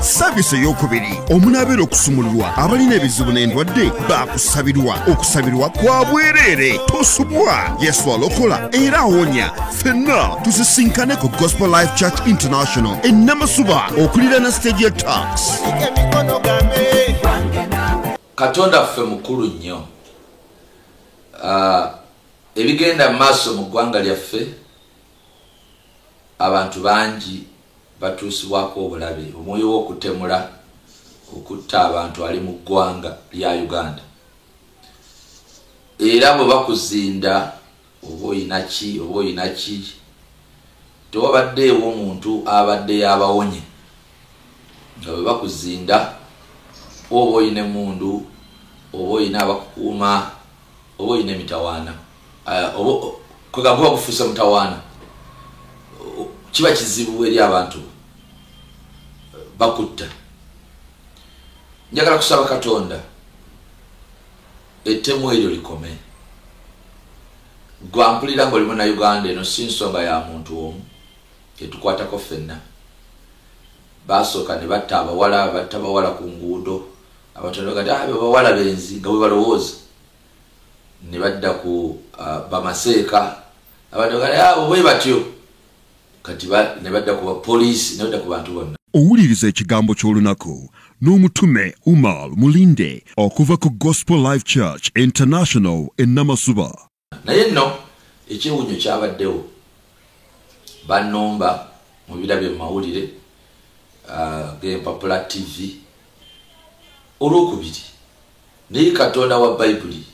saavisi eyokubiri omunaabeera okusumululwa abalina ebizibu n'endwadde baakusabirwa okusabirwa kwa bwereere tosubwa yesu alokola era awonya fenna tusisinkane ku gospel life church international ennamasuba okuliraana siteegi ya tax katonda ffe mukulu nnyo ah, ebigenda mu maaso mu ggwanga lyaffe abantu bangi batuusibwako obulabe omwoyo w'okutemula okutta abantu ali mu ggwanga lya uganda era bwe bakuzinda oba oyina ki oba oyina ki tewabaddeewo omuntu abadde yabawonye nga bwe bakuzinda oba oyina emundu oba oyina abakukuuma oba oyina emitawaana kwegamba kuba kufuuse mutawaana kiba kizibu eri abantu bakutta njagala kusaba katonda ettemu eryo likome gwampulira nga olimu na uganda eno si nsonga ya muntu omu etukwatako ffenna basooka ne batta abawala batta bawala ku nguudo abatondogati ah, abawala benzi nga bwe balowooza nebadda ku uh, bamaseeka abantu bagala abo bwe batyo kati nebadda ku bapoliisi nebadda ku bantu bonna owuliriza ekigambo ky'olunaku n'omutume umar mulinde okuva ku gospel life church international enamasuba naye nno ekyewunyo kyabaddewo banumba mu birabye mu mawulire uh, g'empapula tv olwokubiri Naye Katonda wa Bayibuli,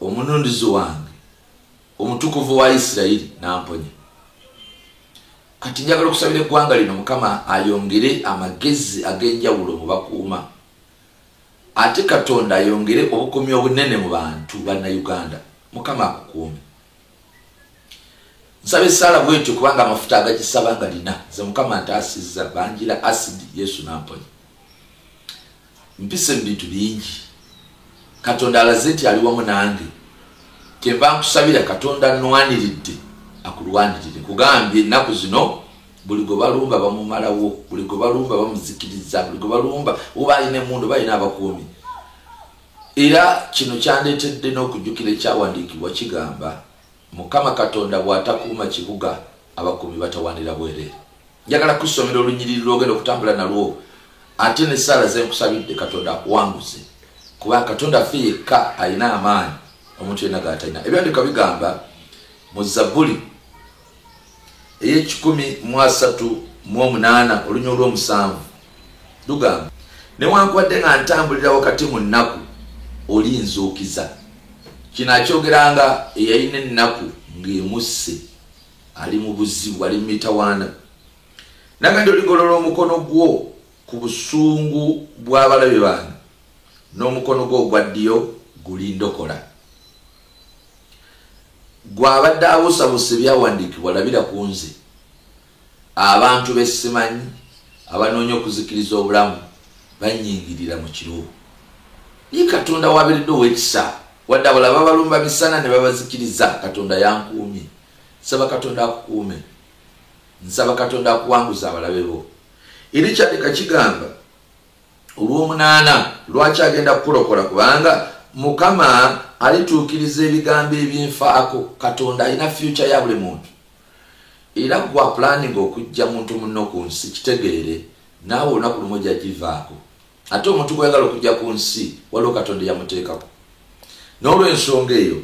Omununuzi wange, Omutukuvu wa Isirayiri, n'amponya. Kati njagala okusabira eggwanga lino Mukama ayongere amagezi ag'enjawulo mu bakuuma, ate Katonda ayongere obukuumi obunene mu bantu banna Uganda. Mukama akukuume. Nsaba essaala bwetyo kubanga amafuta agagisaba nga lina ze Mukama ntaasizza banjira asidi Yesu n'amponya. Mpise mu bintu bingi. Katonda alaze nti ali wamu nange. Kyenva nkusabira Katonda annwaniridde akulwanirire. Nkugambye ennaku zino buli gwe balumba bamumalawo, buli gwe balumba bamuzikiriza, buli gwe balumba oba alina emmundu oba alina abakuumi. Era kino kyandeetedde n'okujjukira ekyawandiikibwa kigamba. Mukama Katonda bw'atakuuma kibuga, abakuumi batawaanira bwereere. Njagala kukusomera olunyiriri lw'ogenda okutambula nalwo ate n'essaala ze nkusabidde Katonda akuwanguze, kubanga Katonda ffe yekka alina amaanyi omuntu yenna g'atalina. Ebyandiika bigamba mu Zabbuli. ey'ekikumi mu asatu mu omunaana olunya olw'omusanvu lugamba newankubadde nga ntambulira wakati mu nnaku olinzuukiza kino akyogeranga eyalina ennaku ng'emusse ali mu buzibu ali mu mitawaana nagandi oligolola omukono gwo ku busungu bw'abalabe bange n'omukono gwo ogwa ddiyo gulindokola Gwe abadde abusabusa ebyawandiikibwa labira ku nze. Abantu be simanyi abanoonya okuzikiriza obulamu bannyingirira mu kiro. Naye Katonda w'abeeredde ow'ekisa, wadde abalala babalumba misana ne babazikiriza, Katonda yankuumye. Nsaba Katonda akukuume. Nsaba Katonda akuwanguze abalabe bo. Eri kyaddeka kigamba olw'omunaana lwaki agenda kukulokola kubanga mukama alituukiriza ebigambo ebinfaako katonda alina fyuca ya buli muntu era gwa pulaninga okujja muntu munno ku nsi kitegeere naawe olunaku lumu ojja givaako ate omuntu gweyagala okujja ku nsi waliwo katonda eyamuteekako n'olwensonga eyo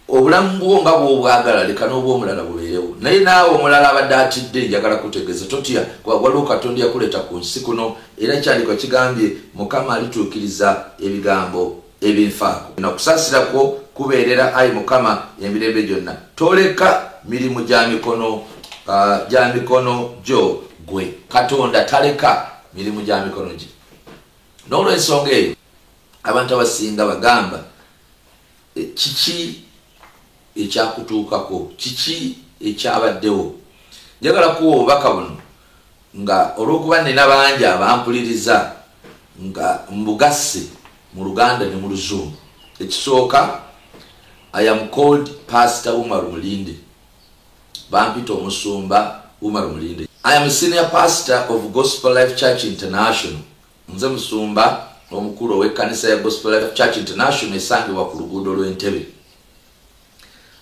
Obulamu bwo nga bw'obwagala leka n'obw'omulala bubeerewo. Naye naawe omulala abadde atidde, njagala kukutegeeza, totya, kuba waliwo Katonda eyakuleeta ku nsi kuno, era Ekyandikwa kigambye, Mukama alituukiriza ebigambo ebinfaako. Na kusaasira kwo kubeerera, ayi Mukama, emirembe gyonna. Toleka mirimu gya mikono, gya mikono gyo Ggwe. Katonda taleka mirimu gya mikono Gye. N'olw'ensonga eyo, abantu abasinga bagamba, Kiki ekyakutuukako? Kiki ekyabaddewo? Njagala kuwa obubaka buno nga olw'okuba nnina bangi abampuliriza nga mbugasse mu Luganda ne mu Luzungu. Ekisooka, I am called Pastor Umar Mulinde. Bampita Omusumba Umar Mulinde. I am a senior pastor of Gospel Life Church International Nze musumba omukulu ow'ekkanisa ya Gospel Life Church International esangibwa ku luguudo lw'e Ntebe.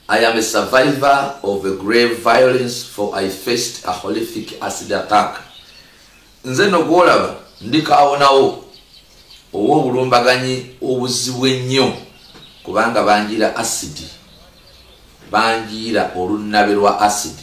I am a survivor of a grave violence for I faced a horrific acid attack. Nze no gw'olaba ndi kaawonawo ow'obulumbaganyi obuzibu ennyo kubanga banjiira asidi banjiira olunnabe lwa asidi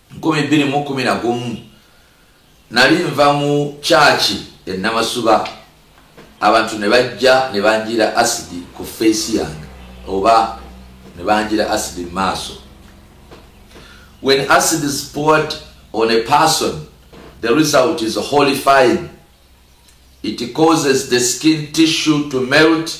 nkumi bbiri mu kumi na gumu nali nva mu kyaki enamasuba abantu ne bajja ne banjira asidi ku feesi yange oba ne banjira asidi mu maaso when acid is poured on a person the result is holy fine it causes the skin tissue to melt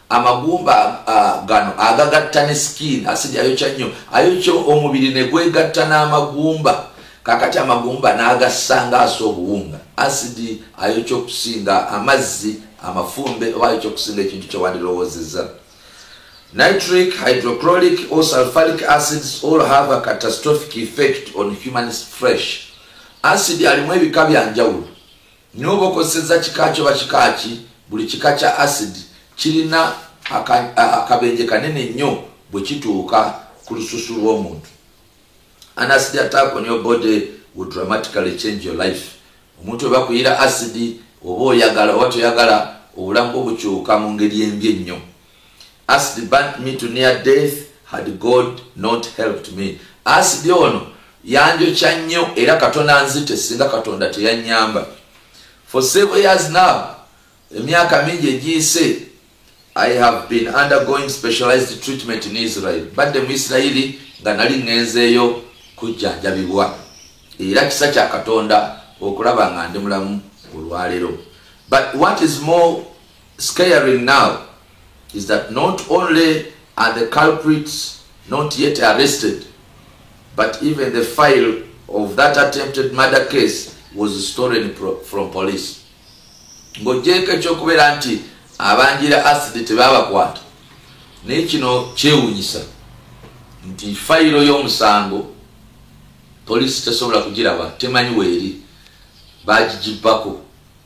Amagumba uh, gano agagatta ne skin asidi ayokya nnyo ayokya omubiri ne gwegatta n'amagumba kakati amagumba n'agassanga asa obuwunga asidi ayokya okusinga amazzi amafumbe oba ayokya okusinga ekintu kyewandirowoozezza nitric hydrocrolic or sulfuric acids all have a catastrophic effect on human fresh asidi alimu ebika bya njawulo Naye oba okozesezza kika ki oba kika ki, buli kika kya asidi kirina akabenje kanene nnyo bwe kituuka ku lususu lw'omuntu. An acid attack on your body will dramatically change your life. Omuntu oba kuyira asidi oba oyagala oba toyagala obulamu bwo bukyuka mu ngeri embi ennyo. Acid burnt me to near death had God not helped me. Acid ono yanjokya nnyo era katonda anzite singa katonda teyanyamba. For several years now, emyaka mingi egiyise, I have been undergoing specialized treatment in Israel. Badde mu Isirayiri nga nali ngenzeeyo kujjanjabibwa. Era kisa kya katonda okulaba nga ndi mulamu olwaleero. But what is more Scaring now is that not only are the culprits not yet arrested but even the file of that attempted murder case was stolen from police ng'ogyeko ekyokubeera nti abanjira asidi tebabakwata naye kino kyewunyisa nti fayiro y'omusango poliisi tesobola kugiraba temanyi weeri bagigibbako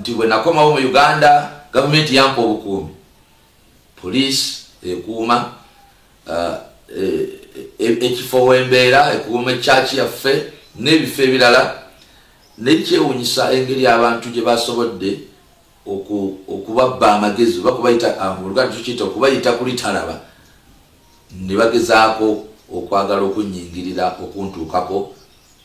nti bwe nakomawo mu uganda gavumenti yampa obukuumi poliisi ekuuma uh, e, e, ekifo wembeera ekuuma ekyaki yaffe n'ebifo ebirala naye kyewunyisa engeri abantu gye basobodde okubabba amagezi oba kubayita ah, muluganda tukiyita okubayita kulitalaba ne bagezaako okwagala okunyingirira okuntuukako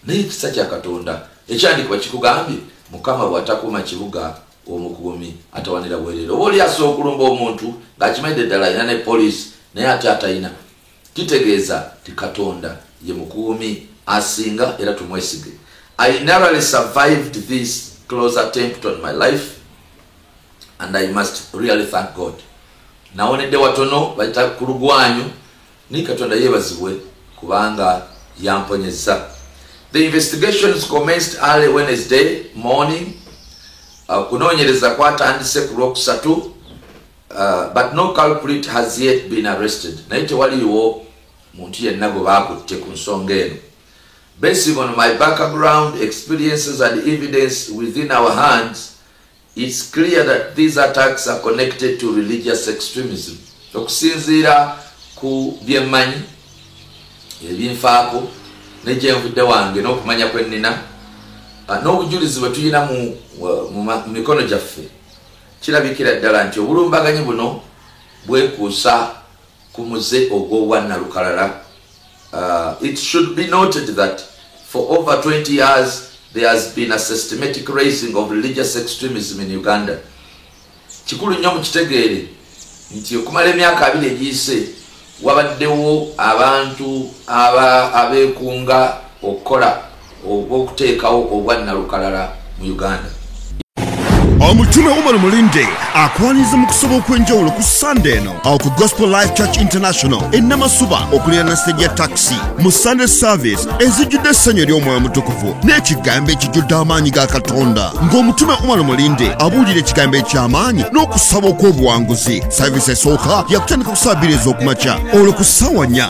naye ekisa kya katonda ekyandikibwa kikugambye mukama bwatakuma kibuga omukuumi atawanira bwerere oba oli asobola okulumba omuntu ng'akimanyidde ddala alina ne poliisi naye ate atalina kitegeeza ti katonda ye mukuumi asinga era tumwesige i narally survived this close attempt on my life and i must really thank god nawonedde watono bayita ku lugwanyu Naye katonda yebazibwe kubanga yamponyezza. The investigations commenced early Wednesday morning. Uh, kunoonyereza kwatandise ku lwokusatu uh, but no culprit has yet been arrested. Naye tewaliwo muntu yenna gwe baakutte ku nsonga eno. Basing on my background experiences and evidence within our hands, It's clear that these attacks are connected to religious extremism. Okusinziira ku byemmanyi ebinfaako ne gyenvudde wange n'okumanya kwe nnina ah, n'obujulizi bwe tulina mu mikono gyaffe kirabikira ddala nti obulumbaganyi buno bwekuusa ku muze ogw'obwa Nalukalala. It should be noted that for over 20 years there has been a systematic raising of religious extremism in Uganda. Kikulu nnyo mukitegeere nti okumala emyaka abiri egiyise wabaddewo abantu abeekunga okukola obw'okuteekawo obwannalukalala mu uganda omutume umar mulinde akwaniriza mu kusaba okw'enjawulo ku sande eno awo ku gospel life church international enamasuba okulirana sejja taxi mu sunday service ezijjudde essanyu ery'omwoyo mutukuvu n'ekigambo ekijjudde amaanyi ga katonda ng'omutume umar mulinde abuulira ekigambo eky'amaanyi n'okusaba okw'obuwanguzi service esooka yakutandika ku saa bbiri ez'okumakya olwo ku ssaawa nnya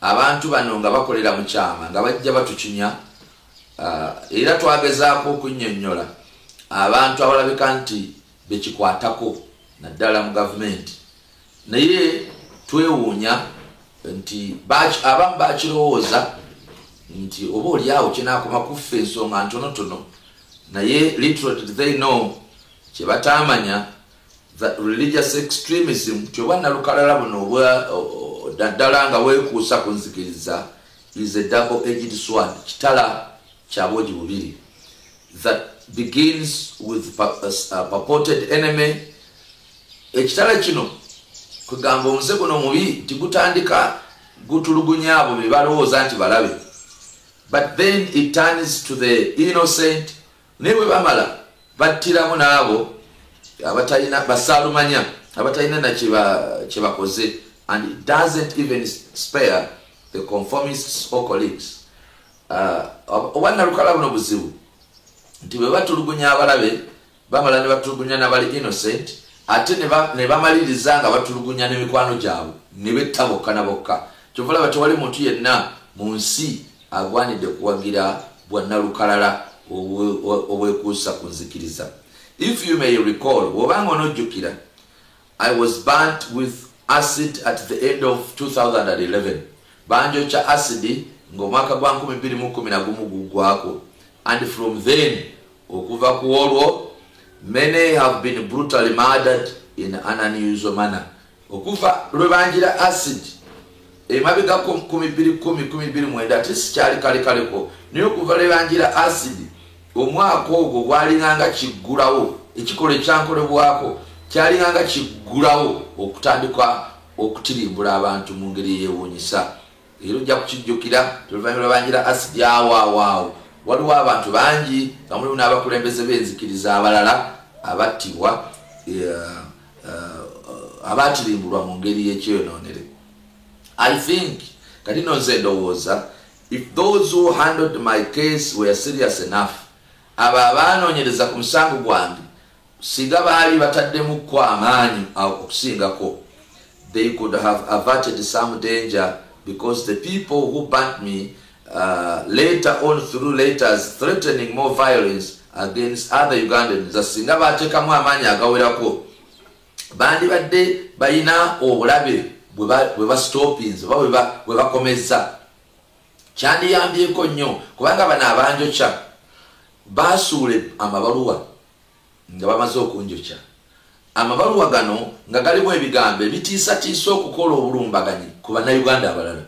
Abantu bano nga bakolera mu kyama nga bajja batukinya ah, era twagezaako okunnyonnyola abantu abalabika nti bekikwatako naddala mu gavumenti naye twewuunya nti abamu bakirowooza nti oba olyawo kinaakoma kuffa ensonga ntonotono naye little did they know kyebataamanya religious extremism kyoba nalukalala buno naddala nga wekuusa ku nzikiriza is a double aged sword kitala kyabogi bubiri that begins with uh, uh, purported enemy ekitala kino kugamba omuze guno omubi nti gutandika gutulugunya abo bebalowooza nti balabe but then it turns to the innocent Naye bwe bamala battiramu n'abo abatalina basaalumanya abatalina na kye bakoze and it doesn't even spare the conformists or colleagues uh, oba nalukala buno buzibu nti bwe batulugunya abalabe bamala ne batulugunya nabali innocent ate ne bamaliriza nga batulugunya n'emikwano gyabwe ne betta bokka na bokka kyovulaba tewali muntu yenna mu nsi agwanidde kuwagira bwa nalukalala obwekuusa ku nzikiriza if you may recall bwobanga onojjukira i was burnt with acid at the end of 2011 banjokya acidi ng'omwaka gwa 211 gugwako and from then okuva ku olwo many have been brutally murdered in an unusual manner Okuva lwe banjira acid emabega ku nkumi bbiri kkumi kumi bbiri mwenda ate sikyali kalekaleko naye okuva lwe banjira acid omwaka ogwo gwalinganga kiggulawo ekikolwa ekyankolebwako kyalinganga kiggulawo okutandika okutirimbula abantu mu ngeri eyewuunyisa era ojja kukijjukira toluvannyuma lwebanjira asidi awaawaawo waliwo abantu bangi nga mulimu n'abakulembeze b'enzikiriza abalala abattibwa uh, abaatirimbulwa mu ngeri y'ekyonoonere i think kati no nze ndowooza if those who handled my case were serious enough abo abaanoonyereza ku musango gwange singa baali bataddemu kko amaanyi okusingako they could have averted some danger because the people who burnt me later on through letters threatening more violence against other Ugandans that singa baatekamu amaanyi agawerako bandibadde balina obulabe bwe bastopinze oba bwe bakomezza kyandiyambyeko nnyo kubanga bano abanjokya baasuule amabaluwa nga bamaze okunjokya amabaluwa gano nga galimu ebigambo ebitiisatiisa okukola obulumbaganyi ku bannayuganda abalala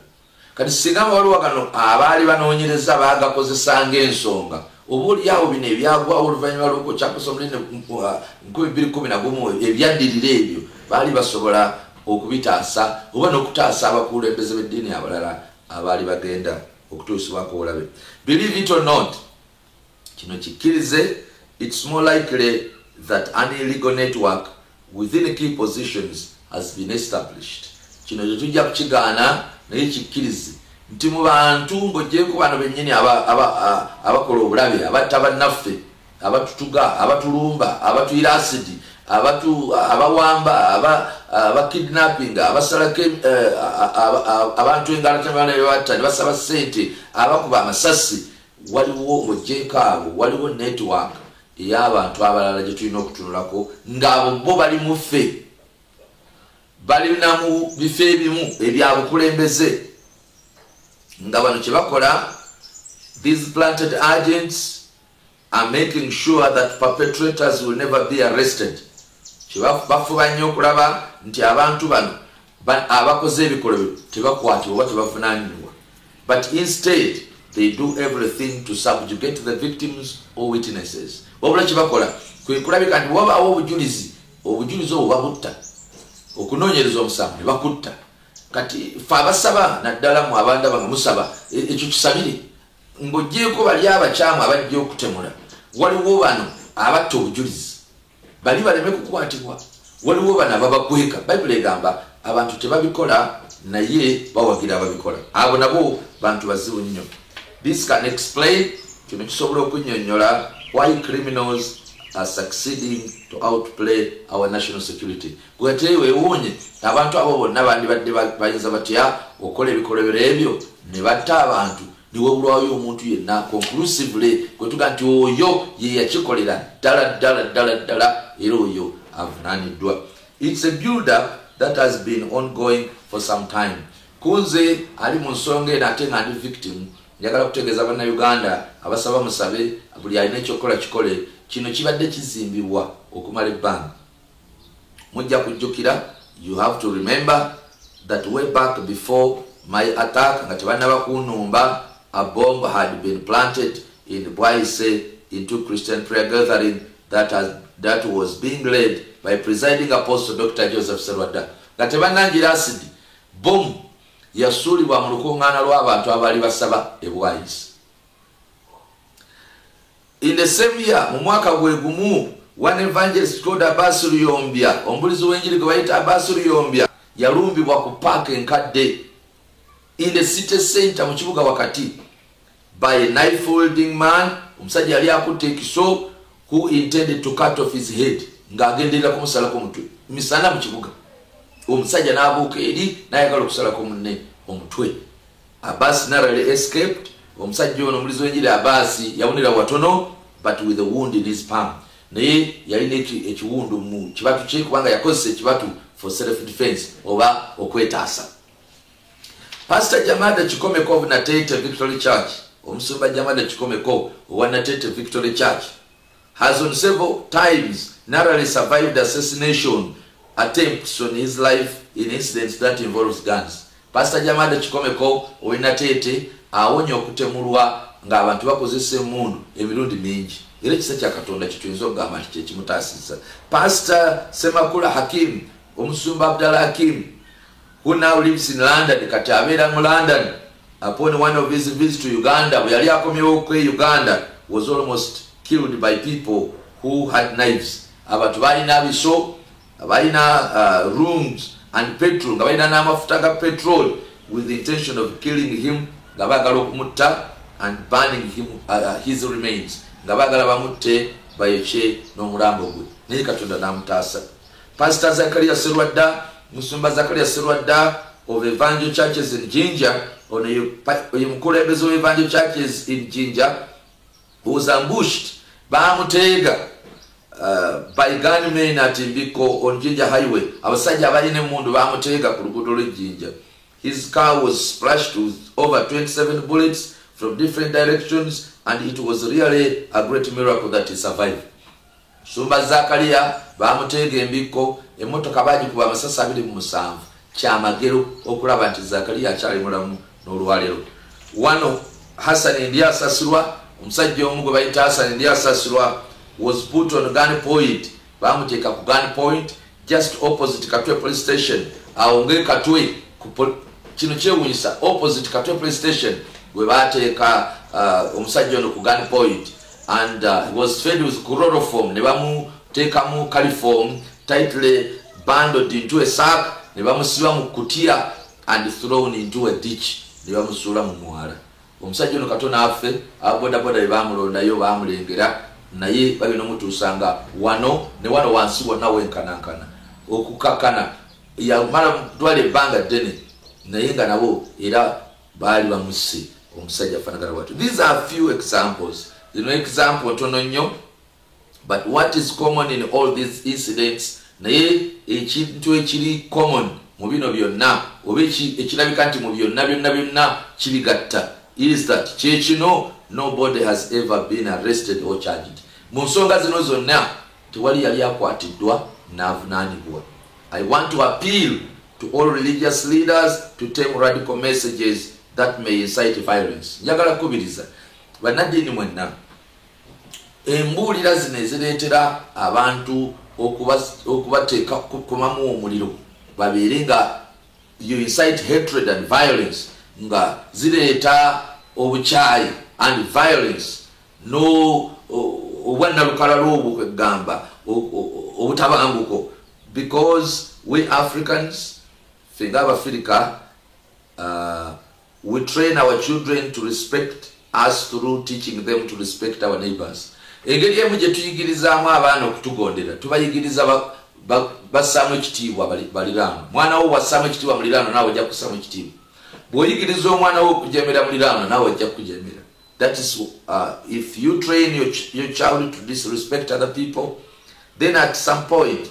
Kati singa abawaliwa gano abaali banoonyereza baagakozesa ng'ensonga, oba oli awo bino ebyagwawo oluvannyuma lw'okukyapasa omunene nkumi bbiri kkumi na gumu ebyaddirira ebyo baali basobola okubitaasa oba n'okutaasa abakulembeze b'eddiini abalala abaali bagenda okutuusibwako obulabe. Believe it or not, Kino kikkirize, it's more likely that an illegal network within key positions has been established. Kino tetujja kukigaana naye kikkirize nti mu bantu ng'ogyeko bano bennyini abakola obulabe abatta bannaffe abatutuga abatulumba abatuyira asidi abawamba abakidnappinga abasalako eh, abantu engalatamaana bebatta ne basaba ssente abakuba amasasi Waliwo mu JK abo waliwo network eyabantu abalala gyetulina okutunulako nga abo bo bali muffe balina mu bifo ebimu ebyabukulembeze nga bano kyebakola these planted agents are making sure that perpetrators will never be arrested bafuba nnyo okulaba nti abantu bano But abakoze ebikolwa bino tebakwatibwa oba tebavunanyinibwa but instead they do everything to subjugate the victims or witnesses wabula kyebakola kwekulabika nti wabaawo obujulizi obujulizi obwo babutta okunoonyereza omusango ne bakutta kati fe abasaba naddala mu abandaba nga musaba e, ekyo kisabire ng'ogyeko bali abakyamu abajja okutemula waliwo bano abatta obujulizi Bali baleme kukwatibwa. Waliwo bano ababakweka. Bayibuli egamba abantu tebabikola naye bawagira ababikola. Abo nabo bantu bazibu nnyo. This can explain, kino kisobola okunnyonnyola why criminals are succeeding to outplay our national security gwete wewuunye abantu abo bonna bandibadde bayinza batya okola ebikolobero ebyo ne batta abantu newabulwayo omuntu yenna conclusively kwetuga nti oyo yeyakikolera ddala ddala ddala ddala era oyo avunaniddwa its a builder that has been ongoing for some time kunze ali mu nsonga eno ate nga ndi victim njagala kutegeeza bannauganda abasaba musabe buli alina ekyokukola kikole kino kibadde kizimbibwa okumala ebbanga mujja kujjukira you have to remember that way back before my attack nga tebannaba kunumba a bomb had been planted in bwaise into christian prayer gathering that, has, that was being led by presiding apostle dr joseph serwadda nga tebannangira asidi bomu yasuulibwa mu lukuŋŋaana lw'abantu abaali basaba ebwayisi In the same year, mu mwaka gwe gumu, one evangelist called Abbas Luyombya, omubulizi w'enjiri gwe bayita Abbas Luyombya, yalumbibwa ku paaka enkadde in the city center mu kibuga wakati by a knife holding man omusajja yali akutte ekiso who intended to cut off his head ng'agenderera kumusalako omutwe misana mu kibuga omusajja n'abuuka eri n'ayagala okusalako munne omutwe Abaasi narrowly escaped Omusajja ono omulizi w'enjiri Abaasi yawunira watono but with a wound in his palm naye yalina ekiwundu mu kibatu kye kubanga yakozesa ekibatu for self defense oba okwetaasa Pastor Jamada Kikomeko of Natete Victory Church, Omusumba Jamada Kikomeko owa Natete Victory Church. has on several times narrowly survived assassination attempts on his life in incidents that involves guns. Pastor Jamada Chikomeko Oinatete awonye okutemulwa ng'abantu bakozesa emmundu emirundi mingi era ekisa kya katonda kituyinza okugamba nti kyekimutaasizza pasita semakula hakim omusumba abdala hakim who now lives in London kati abeera mu London upon one of his visits to Uganda bwe yali akomyewo kwe Uganda was almost killed by people who had knives abantu balina abiso balina uh, rooms and petrol nga balina n'amafuta ga petrol with the intention of killing him nga bagala okumutta and burning him, uh, uh his remains nga bagala bamutte bayokye n'omulambo gwe naye katonda n'amutaasa Pastor Zakaria Sserwadda, Musumba Zakaria Sserwadda of Evangel Churches in Jinja, ono ye pa- ye mukulembeze wa Evangel Churches in Jinja, who was ambushed, baamuteega uh, by gunmen at Mbiko on Jinja Highway. Abasajja abalina emmundu baamuteega ku luguudo lw'e Jinja. His car was splashed with over 27 bullets from different directions and it was really a great miracle that he survived. Musumba Zakaria baamuteega embikko, emmotoka baagikuba amasasi abiri mu musanvu. Kya magero okulaba nti Zakaria akyali mulamu n'olwaleero. Wano Hassan Ndyasasirwa, omusajja omu gwe bayita Hassan Ndyasasirwa was put on gun point, baamuteeka ku gun point, Just opposite Katwe police station awo nge Katwe kino kyewunyisa opposite Katwe police station gwe baateeka uh, omusajja ono ku gun point and uh, he was fed with chloroform ne bamuteekamu caliform tightly bundled into a sack ne bamusiba mu kutiya and thrown into a ditch ne bamusuula mu mwala Omusajja ono katona affe aba boda boda bebamulondayo bamulengera naye bagenda omutuusa nga wano ne wano wansi wonna wenkanankana okukakana yamala dwala ebbanga ddene naye nga nabo era baali bamusse omusajja afanagana bwatyo these are few examples zino example ntono nnyo But what is common in all these incidents naye ekintu ekiri common mu bino byonna oba ekirabika nti mu byonna byonna byonna kibigatta is that kyekino nobody has ever been arrested or charged mu nsonga zino zonna tewali yali akwatiddwa n'avunaanibwa i want to appeal to all religious leaders to take radical messages that may incite violence njagala kukubiriza bannaddiini mwenna embuulira zino ezireetera abantu okubateeka kukomamu omuliro babeere nga you incite hatred and violence nga zireeta obukyayi and violence no obwannalukalala obwo kwegamba obutabanguko because we africans fenga abafirika uh, We train our children to respect us through teaching them to respect our neighbors. Engeri emu gye tuyigirizaamu abaana okutugondera tubayigiriza bassaamu ekitiibwa baliraano. Mwana wo wassaamu ekitiibwa muliraano naawe ojja kussaamu ekitiibwa. Bw'oyigiriza omwana wo okujeemera muliraano naawe ojja kukujeemera. That is uh, if you train your, ch your child to disrespect other people, then at some point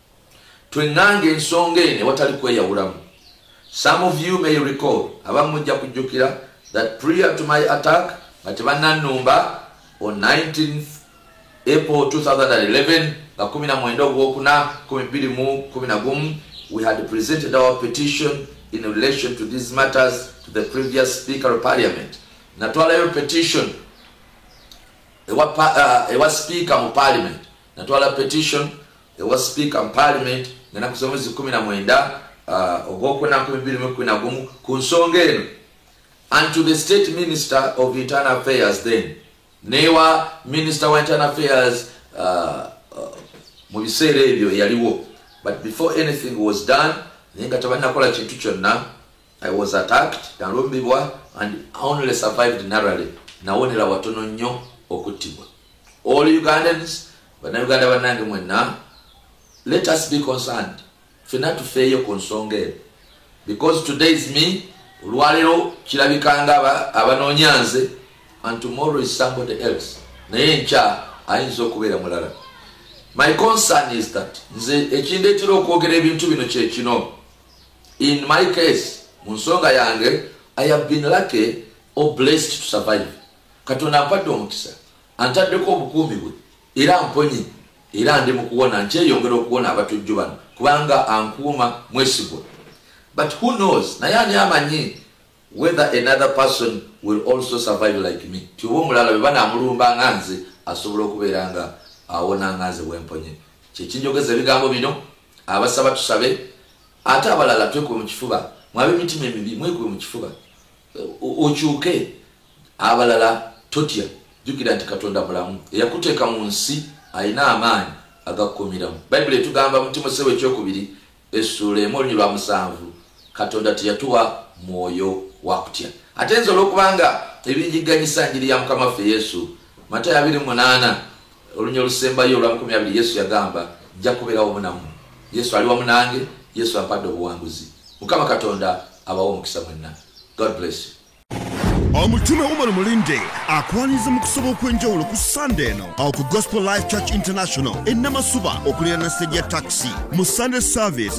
Twenganga ensonga eno ewatali kweyawulamu. Some of you may recall, abamu mujja kujjukira, that prior to my attack, nga tebannannumba, on 19th April 2011, nga 19 ogwokuna 2011, we had presented our petition in relation to these matters to the previous speaker of parliament. Natwalayo petition ewa, uh, ewa speaker mu parliament. Natwala petition ewa sipiika mu paalimenti ng'enaku z'omwezi kumi na mwenda uh, ogwokuna nkumi bbiri mu kumi na gumu ku nsonga eno and to the state minister of internal affairs then newa minister wa internal affairs uh, uh, mu biseera ebyo eyaliwo but before anything was done naye nga tebalinakola kintu kyonna i was attacked nalumbibwa and only survived narally nawonera watono nnyo okuttibwa all ugandans Bannayuganda bannange mwenna, let us be concerned. Fena tufeeyo ku nsonga eno because today is me, olwaleero kirabika nga abanoonya nze and tomorrow is somebody else, naye nkya ayinza okubeera mulala. My concern is that nze ekindeetera okwogera ebintu bino kye kino. In my case, mu nsonga yange, I have been lucky or blessed to survive. Katonda mpadde omukisa. Antaddeko obukuumi bwe era amponye era ndi mu kuwona nkyeyongera okuwona abatujju bano kubanga ankuuma mwesigwa but who knows naye ani amanyi whether another person will also survive like me ti oba omulala bwe banamulumba nga nze asobola okubeera nga awona nga nze bwemponye kyekinjogeza ebigambo bino abasaba tusabe ate abalala twekuwe mu kifuba mwabe emitima emibi mwekuwe mu kifuba okyuke abalala totya jukira nti katonda mulamu eyakuteeka mu nsi alina amaanyi agakukumiramu bayibuli etugamba mu timosewo ekyokubiri essuula emu olunyi lwa musanvu katonda teyatuwa mwoyo wakutya ate nze olwokubanga ebinjiganyisa njiri ya mukama waffe yesu Matayo abiri munaana olunya olusembayo olwamukumi abiri yesu yagamba nja kubeera wamu namu yesu ali wamu nange yesu ampadde obuwanguzi mukama katonda abawo omukisa mwenna god bless you omutume umar mulinde akwaniza mu kusaba okw'enjawulo ku sande eno awo ku gospel life church international enamasuba okulira na stage ya taxi mu sunday service